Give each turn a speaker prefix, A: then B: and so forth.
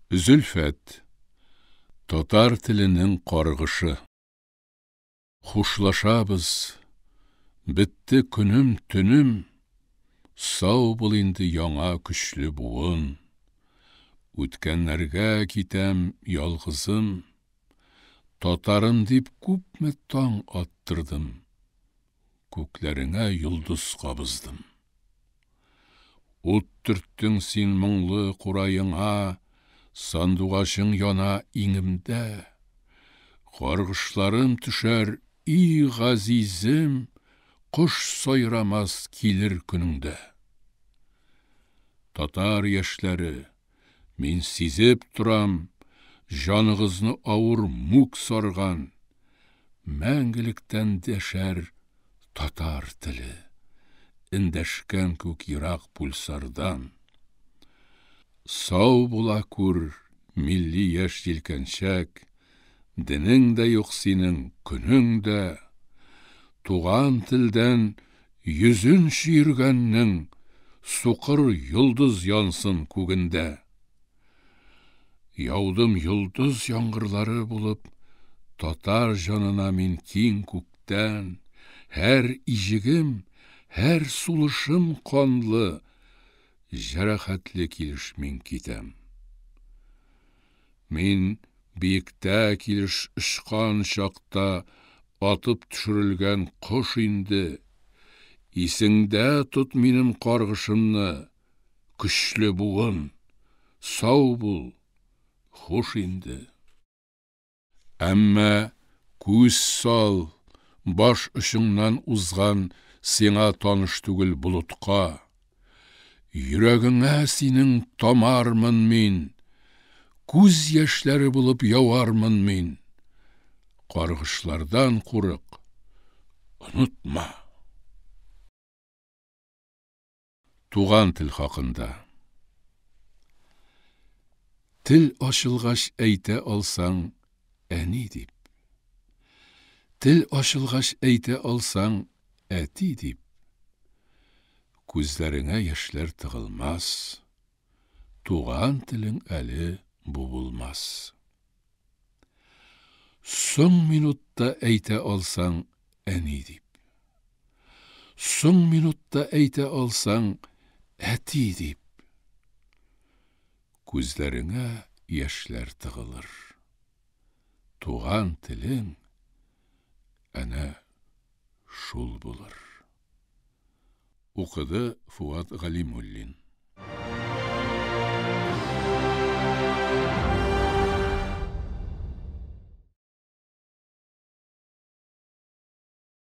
A: Зөлфәт. Татар теленең каргышы. Хушлашабыз. Бетте көнем, төнем. Сау бул инде яңа көчле буын. Үткәннәргә китәм ялгызым. Татарым дип күпме таң аттырдым. Күкләреңә йолдыз кабыздым. Ут төрттең син моңлы кураеңа, Сандугачың яна иңемдә. Каргышларым төшәр, и газизем, Кош сайрамас килер көнеңдә. Татар яшьләре! Мин сизеп торам, җаныгызны авыр мүк сарган. Мәңгелектән дәшәр татар теле. Эндәшкән күк ерак пульсардан. Сау була күр, милли яшь җилкәнчәк! Денең дә юк синең, көнең дә. Туган телдән йөзен чөергәннең, Сукыр йолдыз янсын күгендә. Яудым йолдыз яңгырлары булып, Татар җанына мин киң күктән. Һәр иҗегем, һәр сулышым канлы, Җәрәхәтле килеш мин китәм. Мин биектә килеш очкан чакта атып төшерелгән кош инде. Исеңдә тот минем каргышымны, көчле буын! Сау бул! Хуш инде! Әмма күз сал, баш очыңнан узган сиңа таныш түгел болытка. Йөрәгеңә синең тамармын мин, күз яшьләре булып явармын мин. Каргышлардан курык, онытма. Туган тел хакында. Тел ачылгач әйтә алсаң, әни дип. Тел ачылгач әйтә алсаң, әти дип. Күзләреңә яшьләр тыгылмас. Туган телең әле бу булмас. Соң минутта әйтә алсаң, әни дип. Соң минутта әйтә алсаң, әти дип. Күзләреңә яшьләр тыгылыр. Туган телең әнә шул булыр. Укыды Фуат Галимуллин.